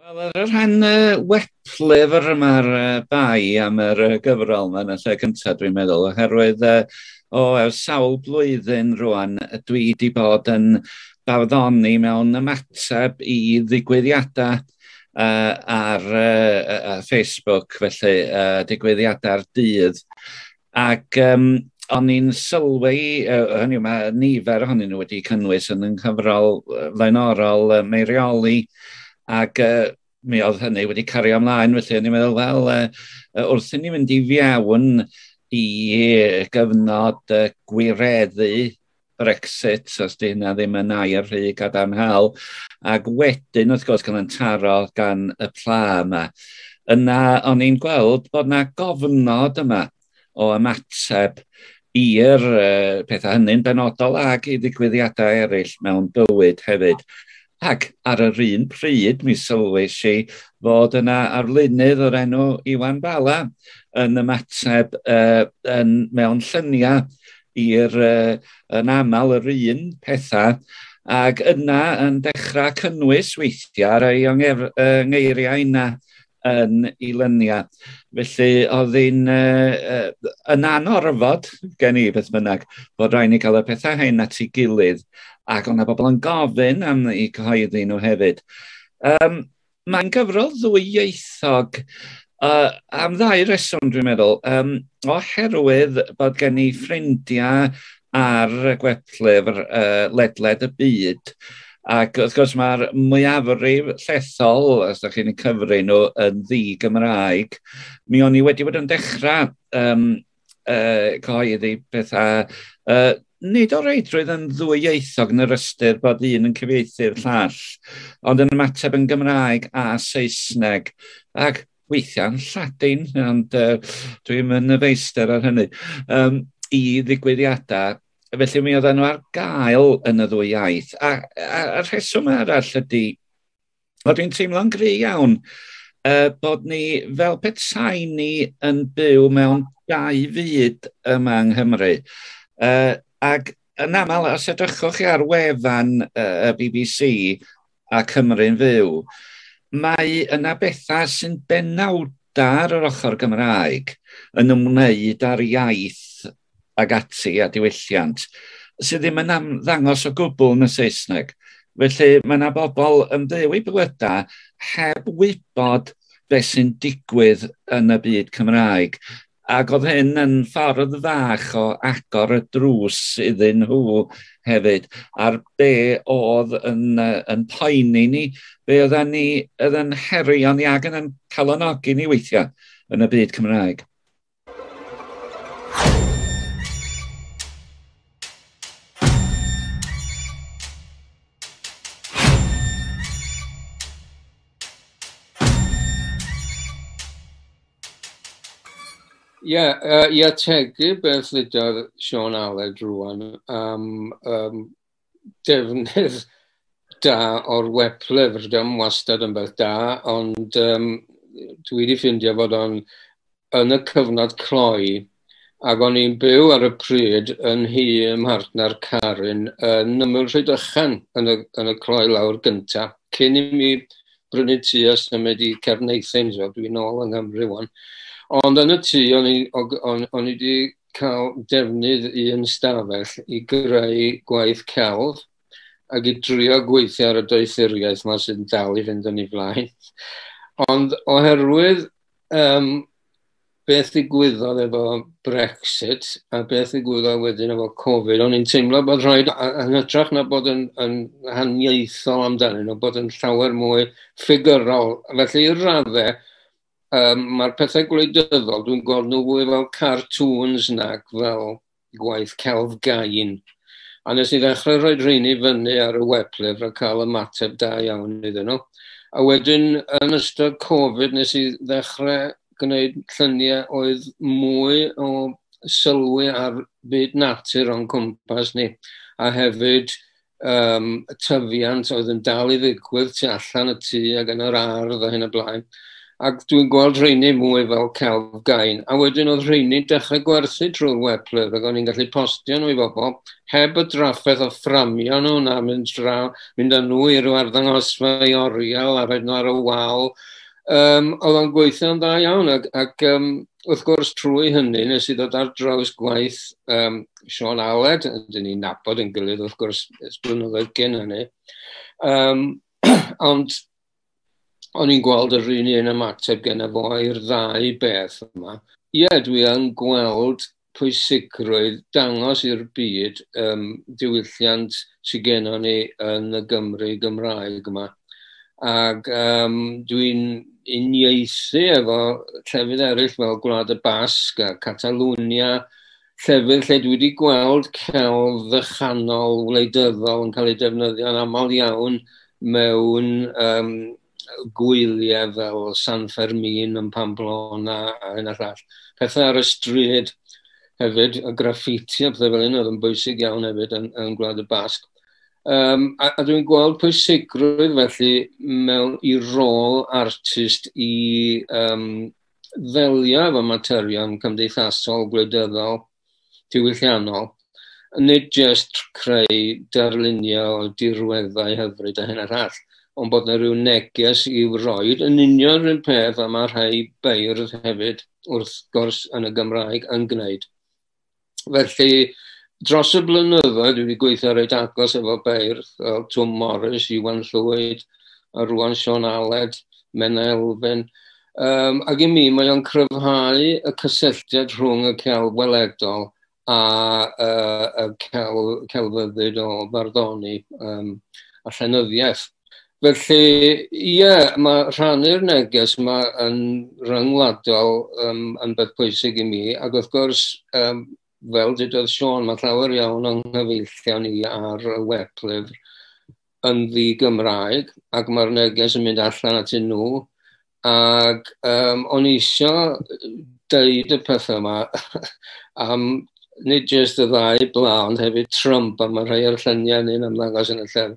Wel ar y rhan yy weblyfr ma'r yy bai am yr yy gyfrol ma'n y lle cynta dwi'n meddwl oherwydd yy o ers sawl blwyddyn rŵan yy dwi 'di bod yn barddoni mewn ymateb i ddigwyddiadau yy ar yy yy yy Facebook felly yy digwyddiadau'r dydd Ac um, o'n i'n sylwi, uh, hynny yw, mae nifer ohonyn nhw wedi cynnwys yn yng nghyfrol uh, flaenorol uh, meirioli, ac uh, mi oedd hynny wedi cario ymlaen, felly o'n i'n meddwl, wel, uh, wrth i ni fynd i fiawn i gyfnod uh, gwireddu Brexit, os di hynna ddim yn air rhy gadarnhaol, ac wedyn, wrth gwrs, cael yn taro gan y pla yma. Yna, o'n i'n gweld bod yna gofnod yma o ymateb i'r uh, pethau hynny'n benodol ac i ddigwyddiadau eraill mewn bywyd hefyd. Ac ar yr un pryd mi sylwais i fod yna arlunydd o'r enw Iwan Bala yn ymateb uh, yn, mewn lluniau i'r uh, yn aml yr un pethau ac yna yn dechrau cynnwys weithiau ar ei uh, ngeiriau yna yn ei lynia. Felly oedd hi'n uh, uh, yn anorfod gen i beth bynnag bod rhaid ni cael y pethau hyn at ei gilydd ac o'na bobl yn gofyn am ei cyhoeddi nhw hefyd. Um, Mae'n gyfrol ddwyieithog uh, am ddau reswm dwi'n meddwl. Um, oherwydd bod gen i ffrindiau ar y gwedllyfr uh, ledled y byd. Ac wrth gwrs mae'r mwyafrif llethol, os ydych chi'n cyfri nhw, yn ddi-Gymraeg. Mi o'n i wedi bod yn dechrau um, uh, cyhoeddi pethau uh, nid o reidrwydd yn ddwyieithog yn yr ystyr bod un yn cyfieithu'r llall, ond yn ymateb yn Gymraeg a Saesneg. Ac weithiau'n Lladin, ond uh, dwi'n mynd y feistr ar hynny, um, i ddigwyddiadau. Felly mi oedden nhw ar gael yn y ddwy iaith. A, a, a rheswm arall ydy, o dwi'n teimlo'n gry iawn, uh, bod ni fel petai ni yn byw mewn dau fyd yma yng Nghymru. Uh, ac yn aml, os edrychwch chi ar wefan uh, y BBC, a Cymru'n fyw, mae yna bethau sy'n benawd ar yr ochr Gymraeg yn ymwneud â'r iaith ag ati a diwylliant sydd ddim yn ddangos o gwbl yn y Saesneg. Felly mae yna bobl yn byw i bywydau heb wybod beth sy'n digwydd yn y byd Cymraeg. Ac oedd hyn yn ffordd fach o agor y drws iddyn nhw hefyd, a'r be oedd yn, uh, yn poeni ni, be oedd ni oedd yn herion ni ac yn yn calonogi ni weithiau yn y byd Cymraeg. Ie, uh, i ategu beth ddydodd Sean Aled rwan am um, defnydd da o'r weblyfr, rydym wastad yn beth da, ond um, dwi wedi ffindio bod o'n yn y cyfnod cloi ac o'n i'n byw ar y pryd yn hi ym mhartner Carin yn ymwyl Rhydychen yn y, yn y cloi lawr gynta, cyn i mi brynu tu a symud i Cerneuthyn, so dwi'n ôl yng Nghymru wan. Ond yn y tu, o'n i, o'n, o'n i wedi cael defnydd un stafell i greu gwaith celf ac i drio gweithio ar y doethuriaeth yma sy'n dal i fynd yn ei flaen. Ond oherwydd um, beth ddigwyddodd efo Brexit a beth ddigwyddodd wedyn efo Covid, o'n i'n teimlo bod rhoi, yn hytrach na bod yn, yn haniaethol amdanyn nhw, bod yn llawer mwy ffigurol. Felly i'r raddau, um, mae'r pethau gwleidyddol, dwi'n gweld nhw fwy fel cartoons nag fel gwaith celf gain. A nes i ddechrau rhoi rheini fyny ar y weblyfr a cael ymateb da iawn iddyn nhw. A wedyn yn ystod Covid nes i ddechrau gwneud lluniau oedd mwy o sylwi ar byd natur o'n cwmpas ni a hefyd um, y tyfiant oedd yn dal i ddigwydd tu allan y tŷ ac yn yr ardd a hyn y blaen. Ac dwi'n gweld rheini mwy fel celf gain. A wedyn oedd rheini dechrau gwerthu drwy'r weblydd ac o'n i'n gallu postio nhw i bobl heb y drafferth o fframio nhw na mynd, draw, mynd â nhw i ryw arddangosfa i oriel a rhaid nhw ar y wal um, oedd o'n gweithio'n dda iawn ac, ac um, wrth gwrs trwy hynny nes i ddod ar draws gwaith um, Sean Aled, dyn ni'n nabod yn gilydd wrth gwrs ys blynyddoedd gen hynny. Um, ond o'n i'n gweld yr un un ymateb gen y fo i'r ddau beth yma. Ie, yeah, dwi yn gweld pwysigrwydd dangos i'r byd um, diwylliant sydd gennym ni yn y Gymru Gymraeg yma. Ac um, dwi'n uniaethu efo llefydd eraill fel Gwlad y Basg a Catalwnia, llefydd lle dwi wedi gweld celf fychanol wleidyddol yn cael ei defnyddio'n aml iawn mewn um, gwyliau fel San Fermin yn Pamplona a hyn a llall. Pethau ar y stryd hefyd, y graffiti a pethau fel hyn oedd yn bwysig iawn hefyd yn, yn Gwlad y Basg. Um, a, a dwi'n gweld pwysigrwydd felly mewn i rôl artist i um, ddelio efo materion cymdeithasol, gwleidyddol, diwylliannol, nid jyst creu darluniau o dirweddau hyfryd a hyn a llall, ond bod yna rhyw neges i'w roed yn union rhywun peth a mae rhai beirdd hefyd, wrth gwrs, yn y Gymraeg yn gwneud. Felly, dros y blynyddoedd, dwi wedi gweithio reit agos efo beirdd, fel Twm Morris, Iwan Llwyd, a rwan Sean Aled, Menna Elfyn, Um, ac i mi, mae o'n cryfhau y cysylltiad rhwng y celf weledol a uh, y celf, celfyddyd o farddoni um, a llenyddiaeth. Felly, ie, yeah, mae rhannu'r neges yma yn ryngwladol um, yn beth pwysig i mi, ac wrth gwrs, um, fel dydodd Sean, mae llawer iawn o'n nghyfeillion ni ar y weblyfr yn ddi-Gymraeg ac mae'r neges yn mynd allan at nhw ac um, o'n eisiau deud y pethau yma am nid jyst y ddau bla ond hefyd Trump a mae rhai o'r lluniau ni'n ymddangos yn y llyfr.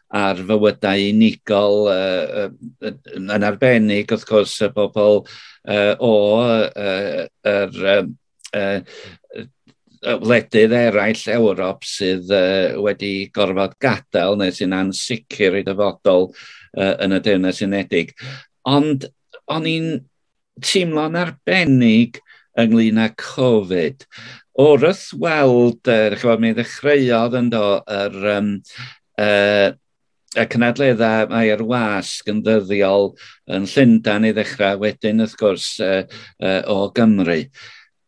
ar fywydau unigol uh, uh, yn arbennig wrth gwrs y bobl uh, o uh, yr uh, uh, wledydd eraill Ewrop sydd uh, wedi gorfod gadael neu sy'n ansicr i dyfodol uh, yn y Deyrnas Unedig. Ond o'n i'n teimlo'n arbennig ynglyn â Covid. O'r wrth weld, uh, chymod, mi ddechreuodd yn do yr, um, uh, y cynadleddau mae ar wasg yn ddyddiol yn Llundan i ddechrau wedyn wrth gwrs uh, uh, o Gymru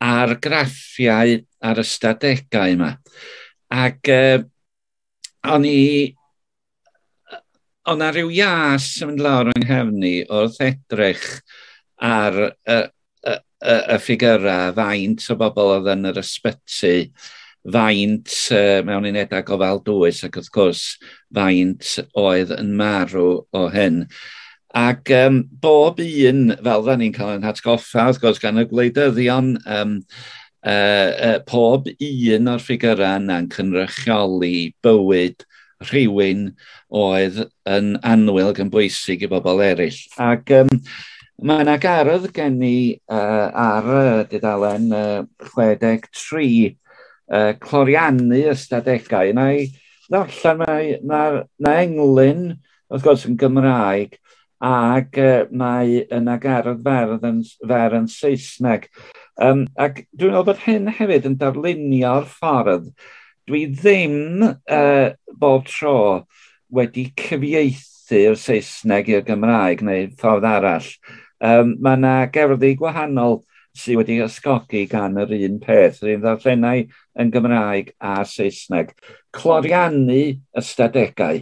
a'r graffiau a'r ystadegau yma. Ac uh, o'n i... Oedd 'na ryw ias yn mynd lawr yng nghefn i wrth edrych ar y y y y ffigyrau, faint o bobl oedd yn yr ysbyty, faint uh, mewn unedau gofal dwys ac wrth gwrs faint oedd yn marw o hyn. Ac yym bob un fel dan ni'n cael ein hatgoffa wrth gwrs gan y gwleidyddion yym yy yy pob un o'r ffigyrau yna'n cynrychioli bywyd rhywun oedd yn annwyl ac yn bwysig i bobl eraill. Ac yym mae yna gardd gen i uh, ar y dudalen uh, 63 uh, cloriannu ystadegau. Yna i ddarllen mae, mae, mae englyn wrth gwrs yn Gymraeg ac uh, mae yna gardd ferdd yn, fer yn Saesneg. Um, ac dwi'n meddwl bod hyn hefyd yn darlunio'r ffordd dwi ddim uh, bob tro wedi cyfieithu'r Saesneg i'r Gymraeg neu ffordd arall. Um, mae yna gerddi gwahanol sydd wedi ysgogi gan yr un peth, yr un ddarllenau yn Gymraeg a Saesneg. Cloriannu ystadegau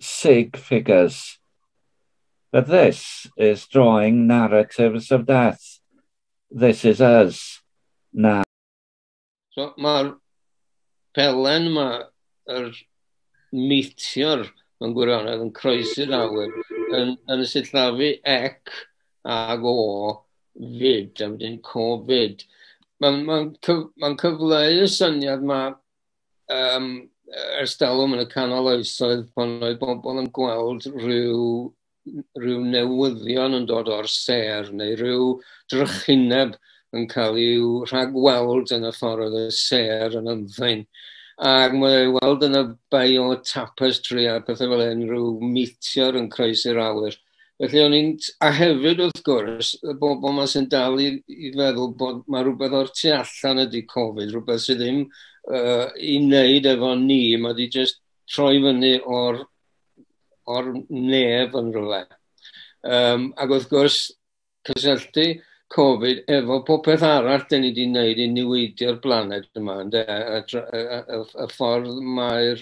sig figures. But this is drawing narratives of death. This is us. Na. So, mae'r pelen yma, yr meteor mewn gwirionedd yn croesi'r awyr, yn, yn y sillafu ec ag o fyd, a wedyn covid. Mae'n ma, cyf, ma cyfleu y syniad mae um, ers dalwm yn y canol oesoedd pan oedd bobl yn gweld rhyw, rhyw newyddion yn dod o'r ser neu rhyw drychineb yn cael ei rhagweld yn y ffordd oedd y ser yn ymddein. Ac mae ei weld yn y bio tapestry a pethau fel hyn, rhyw meteor yn croesi'r awyr. Felly o'n i'n... A hefyd wrth gwrs, y bobl yma sy'n dal i, i feddwl bod mae rhywbeth o'r tu allan ydy Covid, rhywbeth sydd ddim uh, i wneud efo ni, mae wedi just troi fyny o'r, or nef yn rhywle. Um, ac wrth gwrs, cysylltu Covid efo popeth arall da ni wedi wneud i niweidio'r blaned yma, ynde? A, a, a, a, a, y ffordd mae'r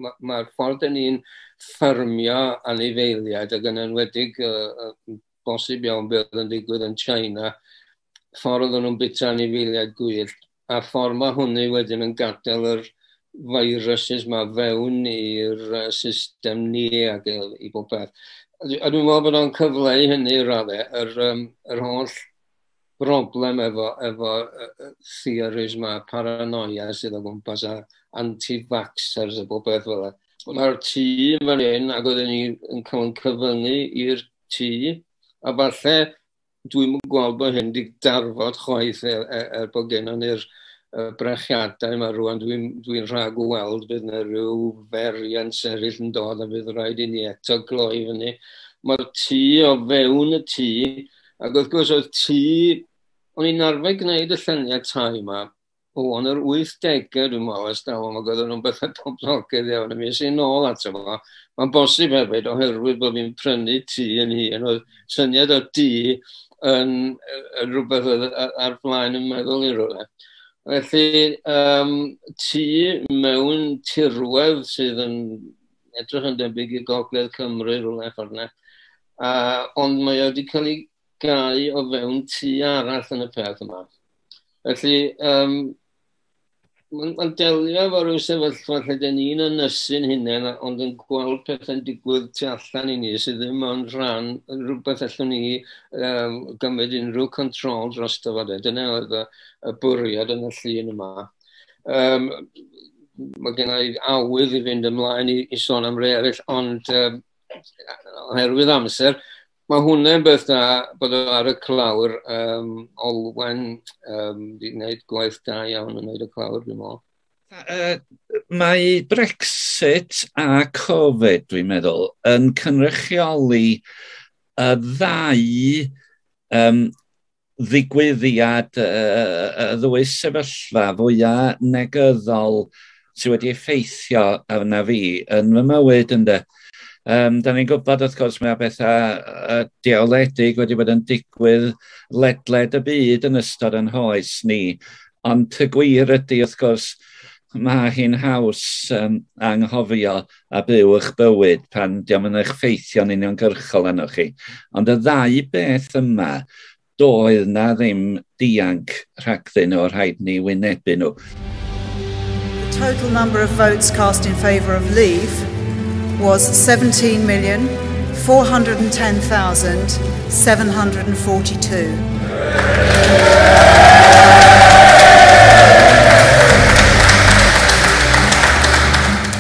ma, ma ffordd da ni'n ffyrmio anifeiliaid ac yn enwedig uh, bosib iawn beth yn digwydd yn China, ffordd oedden nhw'n bita anifeiliaid gwyllt a'r ffordd mae hwnny wedyn yn gadael yr viruses ma fewn i'r system ni ac i bob peth. A dwi'n meddwl bod o'n cyfleu hynny i raddau, yr, um, yr holl broblem efo, efo uh, theories ma, paranoia sydd o gwmpas a anti-vaxxers a bob beth fel yna. Mae'r tŷ yn fan hyn ac oedden ni'n cael yn cyfyngu i'r tŷ a falle Dwi'n gweld bod hyn wedi darfod chwaith er, er, er bod gennym ni'r brechiadau yma rwan, dwi'n dwi, rhag o weld bydd yna rhyw ferian sefyll yn dod a bydd rhaid i ni eto gloi fyny. Mae'r tŷ o fewn y tŷ, ac wrth gwrs oedd tŷ, o'n i'n arfer gwneud y lluniau tai yma, o, yn yr 80au dwi'n meddwl, ers dalwm, ac oedden nhw'n bethau poblogaidd iawn, a mi ys i'n ôl ato fo. Mae'n bosib hefyd, oherwydd bod fi'n prynu tŷ yn hun, oedd syniad o dŷ yn, yn rhywbeth oedd ar flaen yn meddwl i rywle. Felly, um, tŷ mewn tirwedd sydd yn edrych yn debyg i gogledd Cymru rhywle ffordd yna, uh, ond mae wedi cael ei gau o fewn tŷ arall yn y peth yma. Felly, um, mae'n ma delio efo rhyw sefyllfa lle dyn ni'n ynysu'n hunain, ond yn gweld pethau'n digwydd tu allan i ni sydd ddim yn rhan rhywbeth allwn ni um, gymryd unrhyw control dros dyfa. Dyna oedd y, y bwriad yn y llun yma. Um, mae gen i awydd i fynd ymlaen i, i sôn am rei eraill, ond um, oherwydd amser, Mae hwnna'n beth da bod o ar y clawr. Um, Olwen, um, di wneud gwaith da iawn yn wneud y clawr, dwi'n meddwl. Uh, mae Brexit a Covid, dwi'n meddwl, yn cynrychioli y ddau um, ddigwyddiad y ddwy sefyllfa fwya negyddol sydd wedi effeithio arna fi yn fy mywyd ynde. Um, da ni'n gwybod wrth gwrs mae bethau deoledig wedi bod yn digwydd ledled y byd yn ystod yn hoes ni, ond y gwir ydy wrth gwrs mae hi'n haws um, anghofio a byw eich bywyd pan diom yn eich ffeithio'n uniongyrchol arnoch chi. Ond y ddau beth yma, doedd na ddim dianc rhagddyn nhw, rhaid ni wynebu nhw. The total number of votes cast in favour of leave was 17,410,742.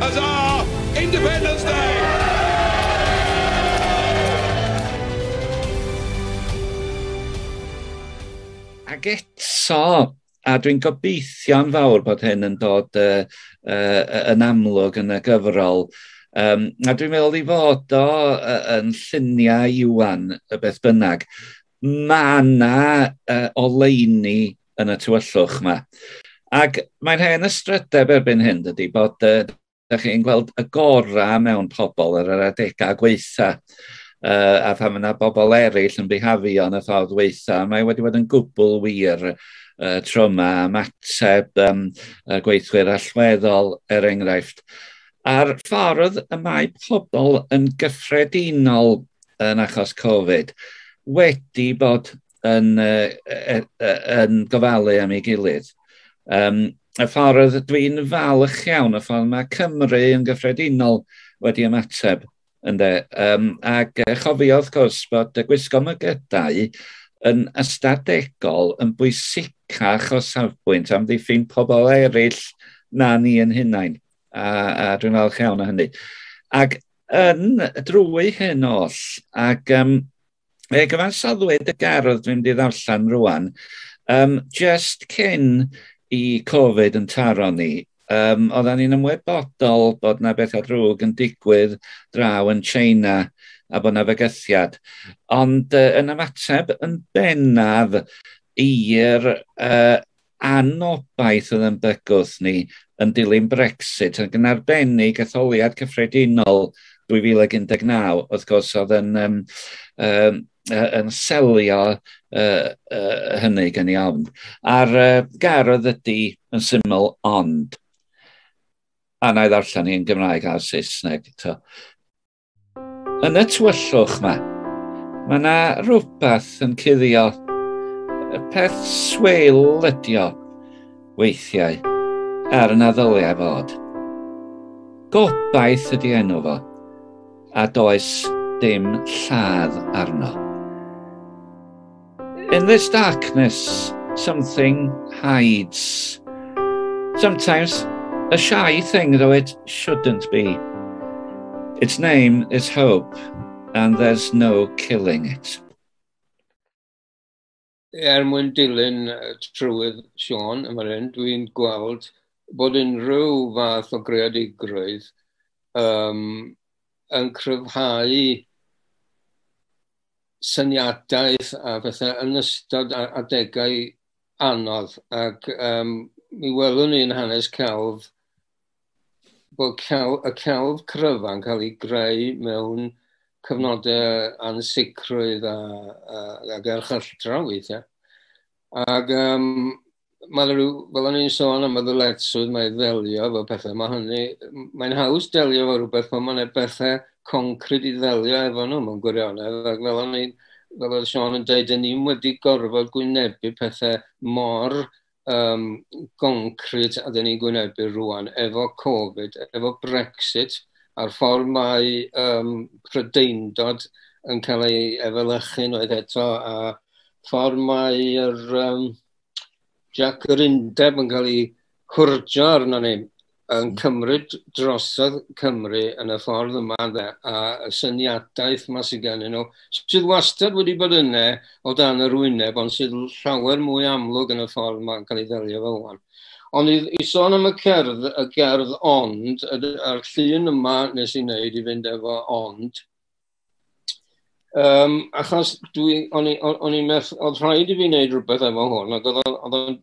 Huzza! Independence Day! Ac eto, a dwi'n gobeithio'n fawr bod hyn yn dod uh, uh, yn amlwg yn y gyfrol, um, a dwi'n meddwl i fod o uh, yn lluniau Iwan y beth bynnag, mae yna uh, oleini yn y tywyllwch yma. Ac mae'n hen ystrydeb erbyn hyn, dydy, bod uh, da chi'n gweld y gorau mewn pobl ar yr adegau gweitha uh, a phan yna bobl eraill yn bihafio yn y ffordd weitha, mae wedi bod yn gwbl wir uh, tryma a mateb um, y gweithwyr allweddol er enghraifft. A'r ffordd y mae pobl yn gyffredinol yn achos Covid wedi bod yn, uh, uh, yn gofalu am ei gilydd. Um, y ffordd dwi'n falch iawn, y ffordd mae Cymru yn gyffredinol wedi ymateb. Ynde? Um, ac uh, chofio, wrth gwrs, bod y gwisgo mygydau yn ystadegol yn bwysicach o safbwynt am ddiffyn pobl eraill na ni yn hunain. A, a dwi'n falch iawn o hynny. Ac yn drwy hyn oll, ac um, Fe gyfansoddwyd y gardd dwi'n di ddarllen rwan, um, just cyn i Covid yn taro ni, um, oedden ni'n ymwybodol bod na bethau drwg yn digwydd draw yn China a bod na fygythiad. Ond uh, yn ymateb yn bennaf i'r uh, anobaith oedd yn bygwth ni yn dilyn Brexit, ac yn arbennig etholiad cyffredinol 2019, wrth gwrs, oedd yn, um, um, yn selio uh, uh, hynny gan i ofn. A'r uh, gar oedd ydy yn syml ond, a na i ddarllen ni yn Gymraeg a'r Saesneg. To. Yn y tywyllwch ma, mae yna rhywbeth yn cuddio. Y peth sweil ydi o, weithiau, er na ddylai fod. Gobaith ydi enw fo, a does dim lladd arno. In this darkness, something hides. Sometimes a shy thing, though it shouldn't be. Its name is hope, and there's no killing it. Er mwyn dilyn trywydd Sean yma hyn, dwi'n gweld bod unrhyw fath o greadigrwydd um, yn cryfhau syniadaeth a bethau yn ystod adegau anodd ac um, mi welwn ni'n hanes celf bod celf, y celf cryfa'n cael ei greu mewn cyfnodau ansicrwydd a, a, a gerchylltra weithiau. Ac um, mae yna rhyw, fel o'n i'n sôn am y ddyletswydd mae ddelio efo pethau, mae hynny, mae'n haws delio efo rhywbeth pan mae'n pethau concrid i ddelio efo nhw mewn gwirionedd, ac fel o'n i'n, fel oedd Sean yn dweud, yn ni'n wedi gorfod gwynebu pethau mor um, concrid a dyn ni'n gwynebu rwan efo Covid, efo Brexit, a'r ffordd mae um, prydeindod yn cael ei efelychu'n oedd eto, a ffordd mae'r um, Jac yr Undeb yn cael ei hwrjo arno ni, yn cymryd drosodd Cymru yn y ffordd yma ynde, a y syniadaeth yma sydd gennyn nhw, sydd wastad wedi bod yna o dan yr wyneb, ond sydd llawer mwy amlwg yn y ffordd yma'n cael ei ddelio fel hwn. Ond i, i sôn am y cerdd, y gerdd ond, a'r llun yma nes i wneud i fynd efo ond, Um, achos dwi, o'n i'n meth, oedd rhaid i fi wneud rhywbeth efo hwn, ac oedd o'n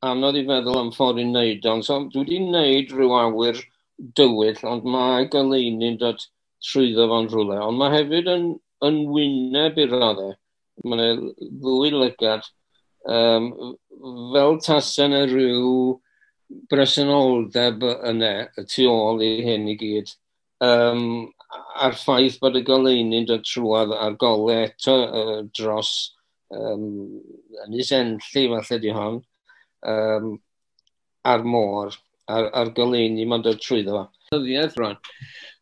anodd i feddwl am ffordd i wneud ond so dwi wedi wneud rhyw awyr dywyll, ond mae goleuni'n dod trwyddo fo'n rhywle, ond mae hefyd yn, yn wyneb i'r raddau. Mae'n ddwy lygad, um, fel tasen y rhyw bresenoldeb yna, y tu ôl i hyn i gyd. um, a'r ffaith bod y goleuni'n dod trwad a'r gole eto uh, dros um, Ynys Enlli, falle di hon, um, a'r môr, a'r, ar goleuni mae'n dod trwyddo fo. Dyddiaeth rwan.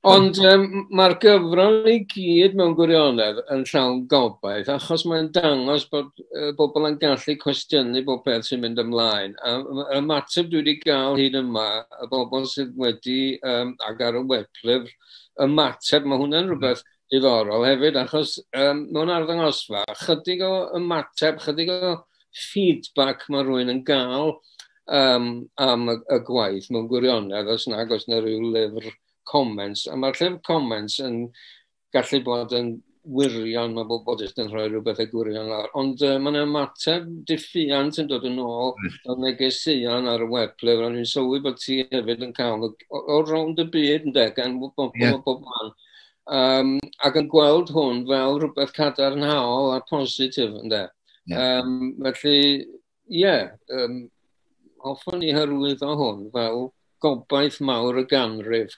Ond um, mae'r gyfrol i gyd mewn gwirionedd yn llawn gobaith, achos mae'n dangos bod y bobl yn gallu cwestiynu bob peth sy'n mynd ymlaen. A y mateb dwi wedi gael hyd yma, y bobl sydd wedi, um, ag ar y weblyfr, y mateb, mae hwnna'n rhywbeth diddorol hefyd, achos um, mewn arddangosfa, chydig o ymateb, chydig o feedback mae rhywun yn gael um, am y, y gwaith mewn gwirionedd, os nag os na rhyw lyfr comments. A mae'r llyfr comments yn gallu bod yn wirion, mae bob bod yn rhoi rhywbeth y gwirion lawr. Ond uh, mae'n ymateb diffiant yn dod yn ôl o negeseuon ar y web ble ro'n i'n sylwi bod ti hefyd yn cael o rownd y byd yn deg, gan bod bob, yeah. bob man. Um, ac yn gweld hwn fel rhywbeth cadarnhaol a positif yn deg. Yeah. Um, felly, ie, um, hoffwn i hyrwyddo hwn fel gobaith mawr y ganrif.